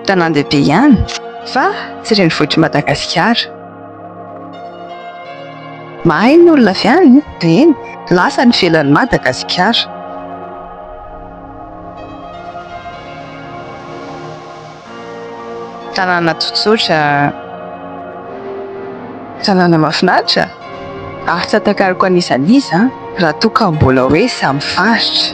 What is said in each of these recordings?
Tanàn-dehibe ihany fa tsy renivohitr'i Madagasikara. Mahay ny olona avy any, eny, lasa any ivelan'i Madagasikara. Tanàna tsotsotra, tanàna mahafinaritra, ary tsy atakariko an'iza an'iza raha toa ka mbola hoe samy faritra.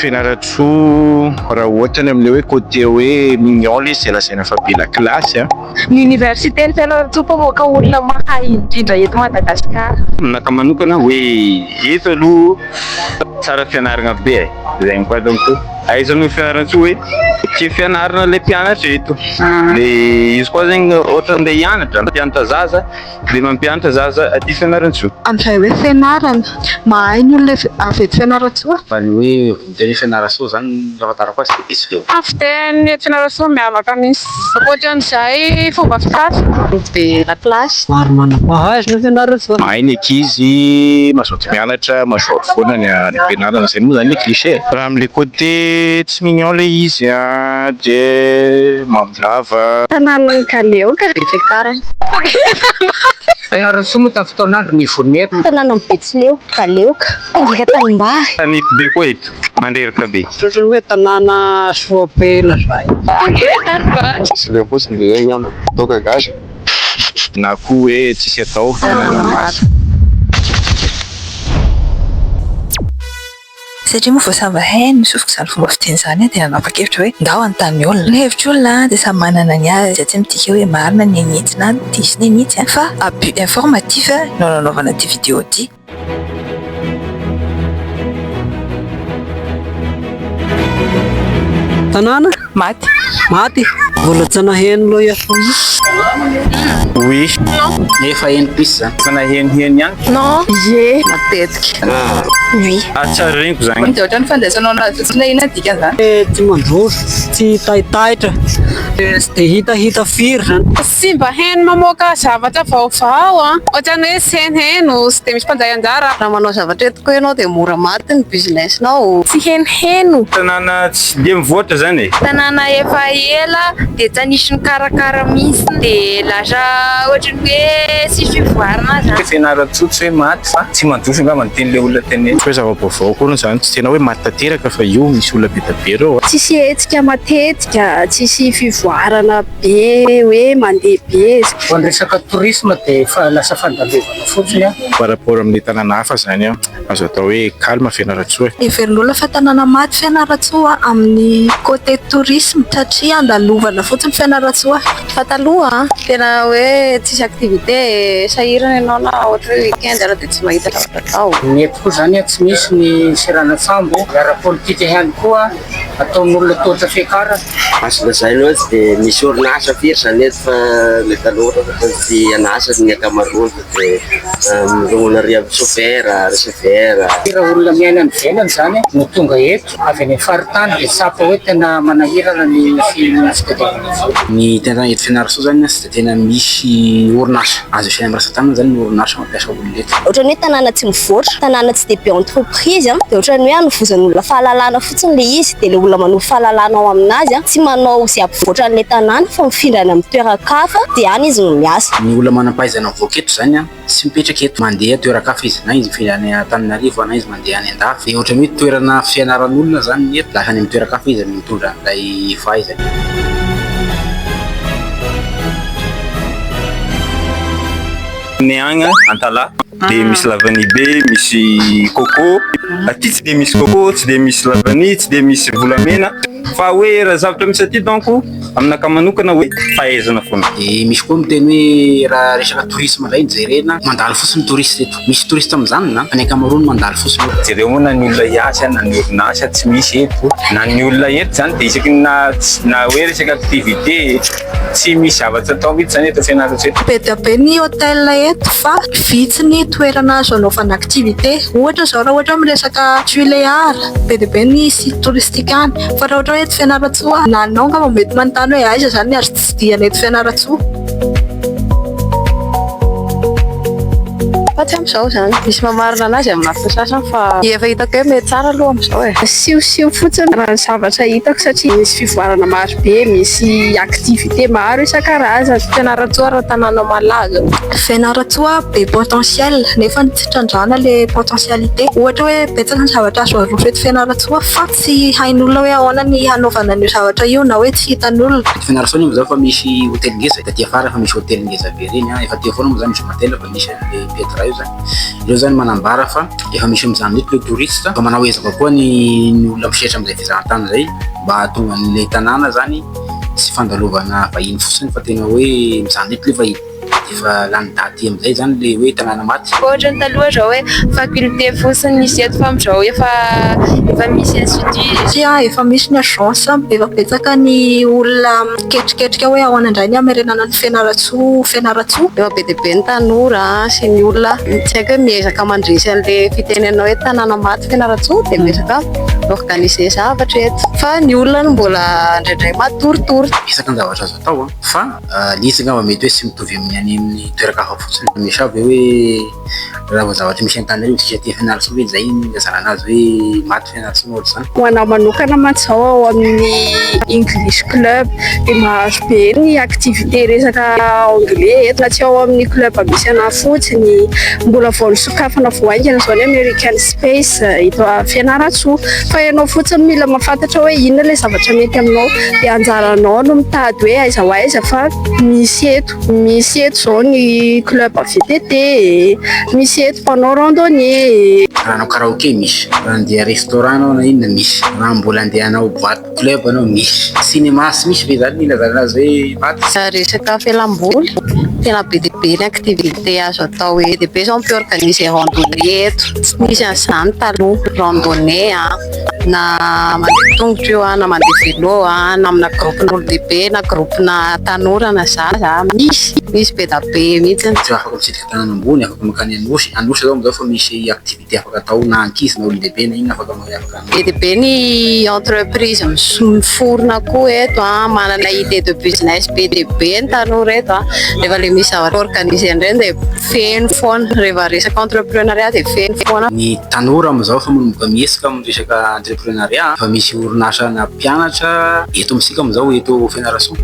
Fianarantsoa raha ohatra ny amin'ilay hoe côté hoe mignon ilay izy izay lazaina fa be lakilasy an! Ny Oniversiten'i Fianarantsoa mpamoaka olona mahay indrindra eto Madagasikara. Aminakahy manokana hoe eto aloha tsara fianarana be e! Izay no patako koa. Ahaizana ny Fianarantsoa hoe tia fianarana ilay mpianatra eto. Dia izy koa zegny ohatra andeha hianatra, mpianatra zaza. Dia mampianatra zaza aty Fianarantsoa. Amin'izay hoe fianarana, mahay ny olona avy eto Fianarantsoa? Fa ny hoe teny hoe Fianarantsoa izany raha fantarako azy dia diso feo. Ny fiteny eto Fianarantsoa miavaka misy. Ankoatra an'izay fomba fitafy. Groupe de la classe. Maro manam-pahaizana ao Fianarantsoa. Mahay ny ankizy, mazoto mianatra, mazoto foana ny ampianarana, izay moa izany le cliché e! Raha amin'ilay côté Tsy mignon le izy a de mandrava. Tananan'i kaleo ka de tara. Ianareo soa moa tamin'ny fotoan'andro nivon'ny eto. Tananan'i betsileo, kaleo ka. Mpanjaka tanimbary. Tanety be koa eto, mandreraka be. Ohatrany hoe tanàna soa be lazaina. Betsileo fotsiny ve eo ianao? Toaka gasy. Na koa hoe tsisy atao. Tananamaso. Satria moa vao samy hainy ny sofiko izany fomba fiteny izany dia nanapa-kevitra hoe ndao hanontany ny olona. Ny hevitr'olona dia samy manana ny azy izay tsy midika hoe marina ny an'itsy na diso ny an'itsy fa abus informatif no nanaovana ity vidéo ity. Tanàna Maty. Maty? Mbola tsy naheno loha ya foana. Oui. Non. Efa heno pisse zany. Efa naheniheno ihany. Non. Ye. Matetika. Oui. Ah, tsy ary reniko zany. Dia ohatran'ny fandraisanao an'azy io. Tsy na inona dikany zany. Tsy mandroso, tsy taitaitra. Tsy dia hitahita firy zany. Tsy mba heno mamoaka zavatra vaovao an! Ohatrany hoe tsy heno heno, tsy dia misy mpandray anjara. Raha manao zavatra eto ko enao dia mora maty ny business nao. Tsy heno heno. Tanàna tsy dia mivoatra zany e. Tanàna efa ela dia tsy anisy mikarakara mihintsiny dia lasa ohatrany hoe tsisy fivoarana zany. Tsy fianarana tsoa tsy hoe maty fa tsy mandroso angamba ny tian'ilay olona tenenina. Tsy hoe zava-baovao akory izany, tsy tena hoe maty tanteraka fa io misy olona be dia be ireo a. Tsisy hetsika matetika, tsisy fivoarana. be hoe mandeha be zany. Vao ny resaka tourisme dia efa lasa fandalovanao fotsiny an. Par rapport amin'ny tanàna hafa izany an, azo atao hoe calme Fianarantsoa e. Heverin'olona fa tanàna maty Fianarantsoa amin'ny côté tourisme satria andalovana fotsiny Fianarantsoa. Fa taloha tena hoe tsisy activité e, sahirana ianao na ohatra hoe week-end ary dia tsy mahita zavatra atao. Ny eto koa izany an, tsy misy ny seranantsambo, ny ara-politika ihany koa ataon'olona tohatra fiakarana. Azo lazaina hoe tsy dia misy orinasa firy izany eto fa ny tanora ohatra ny tia an'asa ny ankamaroany fa dia mirongona ary amin'ny sopera, receveur. Firy olona miaina any ivelany izany no tonga eto avy any amin'ny faritany dia tsapa hoe tena manahirana ny fitadiavana vola? Ny tena eto Fianarantsoa izany an, Tena misy orinasa azo isaina mirasa tanana zany ny orinasa mampiasa olona eto. Ohatrany hoe tanàna tsy mivoatra, tanàna tsy dia be entreprise an, dia ohatrany hoe anovozan'olona fahalalana fotsiny ilay izy, dia ilay olona manovo fahalalana ao amin'azy an, tsy manao izay hampivoatra an'ilay tanàna fa mifindra any amin'ny toeran-kafa dia any izy no miasa. Ny olona manam-pahaizana mivoaka eto izany an. Tsy mipetraka eto. Mandeha toeran-kafa izy. Na izy mifindra any Antananarivo na izy mandeha any an-dafy. Dia ohatran'ny hoe toerana fianaran'olona izany ny eto. Lasa any amin'ny toeran-kafa izy mitondra an'ilay fahaizany. Ny agny Antalaha dia misy lavany be, misy coco. Aty tsy dia misy coco, tsy dia misy lavany, tsy dia misy volamena. Fa hoe raha zavatra misy aty donc. Aminakahy manokana hoe fahaizana foana. Dia misy koa miteny hoe raha resaka tourisme indray no jerena, mandalo fotsiny ny touriste eto. Misy touriste amin'izany na? Fa ny ankamaroany mandalo fotsiny eo. Jereo moa na ny olona hiasa na ny orinasa tsy misy eto. Na ny olona eto izany dia isaky ny na hoe resaka activité tsy misy zavatra atao mihitsy izany eto Fianarantsoa eto. Be dia be ny hotel eto fa vitsy ny toerana azo anaovana activité. Ohatra izao raha ohatra hoe miresaka Tuléar, be dia be ny site touristique any. Fa raha ohatra hoe eto Fianarantsoa, na anao angamba mety manontany hoe aiza izany ny azo tsidihana eto Fianarantsoa? Fa tsy amin'izao izany. Misy mamarina anazy amin'ny lafiny sasany fa ny efa hitako hoe mety tsara aloha amin'izao e. Asihosiho fotsiny raha ny zavatra hitako satria misy fivoarana maro be, misy activités maro isan-karazany. Fianarantsoa raha tanàna malaza. Fianarantsoa be potentiel nefa tsy trandrahana ilay potentialité. Ohatra hoe betsaka ny zavatra azo arofo eto Fianarantsoa fa. Tsy hain'olona hoe ahoana ny hanaovana an'io zavatra io na hoe tsy hitan'olona. Eto Fianarasony moa izany efa misy hotely ngeza taty afara efa misy hotely ngeza be ireny an! efa teo foana moa izany jour matin efa nisy an! le Petra io izany ireo izany manambara fa efa misy amin'izany mihitsy ireo touristes fa manao ezaka koa ny ny olona misehatra amin'izay fizahantany izay mba hahatonga an'ilay tanàna izany tsy fandalovana vahiny fotsiny fa tena hoe mizanon'eto ilay vahiny. Efa lany daty amizay zany le hoe tanàna maty. Koa ohatrany taloha zao hoe faculté fotsiny nisy eto fa amizao efa efa misy institut. Tsia efa misy ny agence, efa betsaka ny olona miketriketrika hoe ahoana indray ny hamerenana an'i Fianarantsoa ho Fianarantsoa. Efa be dia be ny tanora sy ny olona tsy haiko hoe miezaka mandresy an'le fitenenana hoe tanàna maty Fianarantsoa dia miezaka mi-organiser zavatra eto fa ny olona no mbola indraindray matoritory. Betsaka ny zavatra azo atao an fa. Ah, ilay izy angamba mety hoe tsy mitovy amin'ny any amin'ny toeran-kafa fotsiny. Misy ve hoe raha vao zavatra misy an-tany hoe indrisy aty Fianarantsoa ve izay no ilazana anazy hoe maty Fianarantsoa na ohatr'izany? Ho anah manokana mantsy izao ao amin'ny English Club dia mahazo be ny activités resaka anglais eto na tsy ao amin'ny club misy anah fotsiny. Mbola vao nisokafana vao haingana izao ny American Spy. Peace, eto Fianarantsoa. Fa ianao fotsiny no mila mahafantatra hoe inona ilay zavatra mety aminao. Dia anjaranao no mitady hoe aiza ho aiza fa misy eto. Misy eto izao ny club VTT e, misy eto mpanao randonnée e. Raha hanao karaoke misy, raha handeha restaurant ianao na inona misy, raha mbola handeha hanao boite. Club anao misy cinéma sy misy ve zany ny ilazana azy hoe maty? Resaka fialamboly, tena be dia be ny activité azo atao eny, dia be izao mpi-organiser randonnée eto, tsy nisy an'izany taloha, randonnée a, na mandeha tongotra io a, na mandeha vélo a, na amina groupe n'olon-dehibe na groupe na tanora na zaza, misy, misy be da be mihitsy. Tsy afaka mitsidika tanàna ambony, afaka mankany Anosy, Anosy zao amzao efa misy activité afaka atao na ankizy na olon-dehibe na inona afaka afaka. Be dia be ny entreprise miforona koa eto an, manana idée de business be dia be ny tanora eto an, rehefa ilay misy zavatra organiser indray dia feno foana, rehefa resaka entreprenariat dia feno foana. Ny tanora amin'izao efa manomboka mihetsika amin'ny resaka entreprenariat an, efa misy orinasa nampianatra eto amintsika amin'izao eto. Fianarantsoa.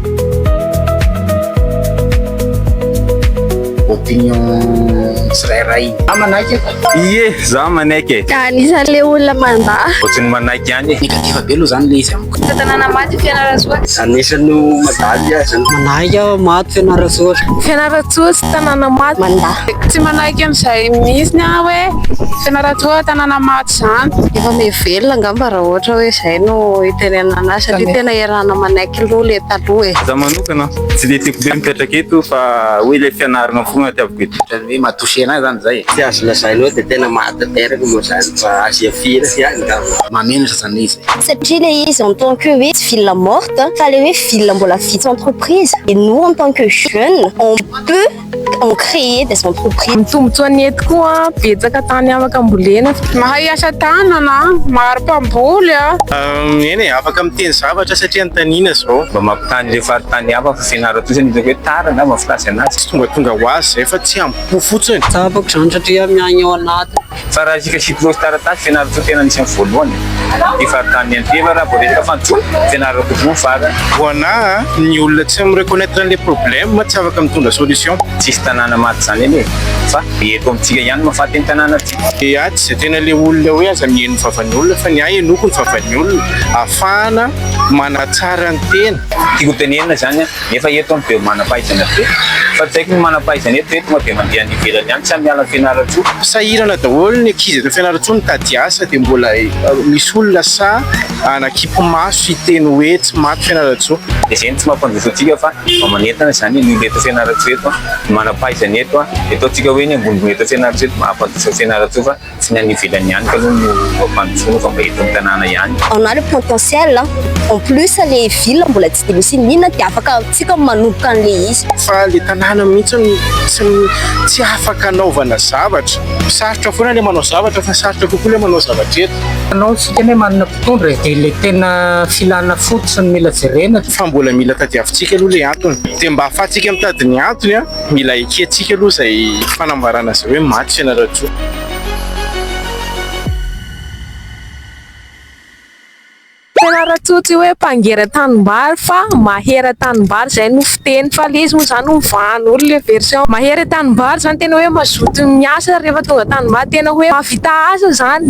Opinion tsirairay. Za manaiky e. Ie, za manaiky e. Anisan'ny le olona mandà. Ohatran'ny manaiky ihany e. Negatif be aloha zany le izy amiko. Tanàna maty Fianarantsoa. Anisan'ny mandà azy. Manaiky aho maty Fianarantsoa. Fianarantsoa tsy tanàna maty. Mandà. Tsy manaiky an'izay mihitsy aho hoe Fianarantsoa tanàna maty izany. Efa miha velona angamba raha ohatra hoe izay no itenenana azy satria tena. Rano manaiky loha le taloha e. Za manokana tsy dia tiako be mipetraka eto fa hoe ilay fianarana foana tiaviko eto. Otrany hoe matosena ahy zany zay e. Tsy azo lazaina hoe de tena mahatanteraka moa zany fa azo ihafiana ihany ngamba. Mahamenatra zany le izy e. Satria le izy en tant que hoe ville morte fa le hoe ville mbola vitsy entreprise et nous en tant que jeune on peut On crée des entreprises. Ny tombontsoa ny eto koa betsaka tany afaka ambolena. Mahay asa tanana, maro mpamboly a. Eny e, afaka miteny zavatra satria anontaniana zao. Mba mampitaha an'ireo faritany hafa fa fianarako fotsiny hitako hoe tara angamba ny filaza anazy. Tsy tongatonga ho azy izay fa tsy ambopo fotsiny. Tsara bako izany satria miaigna ao anatiny. Fa raha isika hikilaozy taratasy fianaran-tsoa tena anisan'ny voalohany ny faritany Anteva raha vao resaka fandrosoana fianaran'ny tokony ho farany. Voana a! Ny olona tsy mi reconnaitre an'ilay problème tsy afaka mitondra solution. Tsisy tanàna maty zany anie e! Fa eto amintsika ihany no mahafaty ny tanàna ty. Dia aty izay tena ilay olona hoe aza miheno ny vavan'ny olona fa ny ahy henoiko ny vavan'ny olona ahafahana manatsara ny tena. Tiako ho tenenina izany an! Nefa eto an be manampahaizana be. Fa tsy haiko ny manampahaizana eto ve tonga de mandeha any ivelany any tsy amin'ny alan'i Fianarantsoa? Sahirana daholo ny ankizy eto Fianarantsoa mitady asa dia mbola misy olona sahy hanakimpy maso hiteny hoe tsy maty Fianarantsoa. Dia izay no tsy mampandroso antsika fa mba manentana izany ny olona eto Fianarantsoa eto, ny manampahaizana eto, eto antsika hoe ny ambonimbony eto Fianarantsoa eto mahampandroso an'i Fianarantsoa fa. Tsy ny any ivelany ihany kaloha no ampandrosoana fa mba eto amin'ny tanàna ihany. On a le potentiel a! En plus le ville mbola tsy dia misy inona dia afaka antsika ny manomboka an'le izy. Fa le tanàna mihitsy no tsy tsy afaka anaovana zavatra. Sarotra foana le manao zavatra fa sarotra kokoa le manao zavatra eto. Anao tsy hitany hoe manana mpitondra e! Dia le tena filana fototra no mila jerena. Fa mbola mila tadiavintsika aloha le antony. Dia mba afahantsika mitady ny antony a! Mila ekentsika aloha izay fanambarana izay hoe maty Fianarantsoa. Fianarantsoa tsy hoe mpangera tanimbary fa mahera tanimbary izay no fiteny fa ilay izy moa izany hovahan'olo ilay version mahera tanimbary izany tena hoe mazoto miasa rehefa tonga tanimbary tena hoe mahavita asa izany.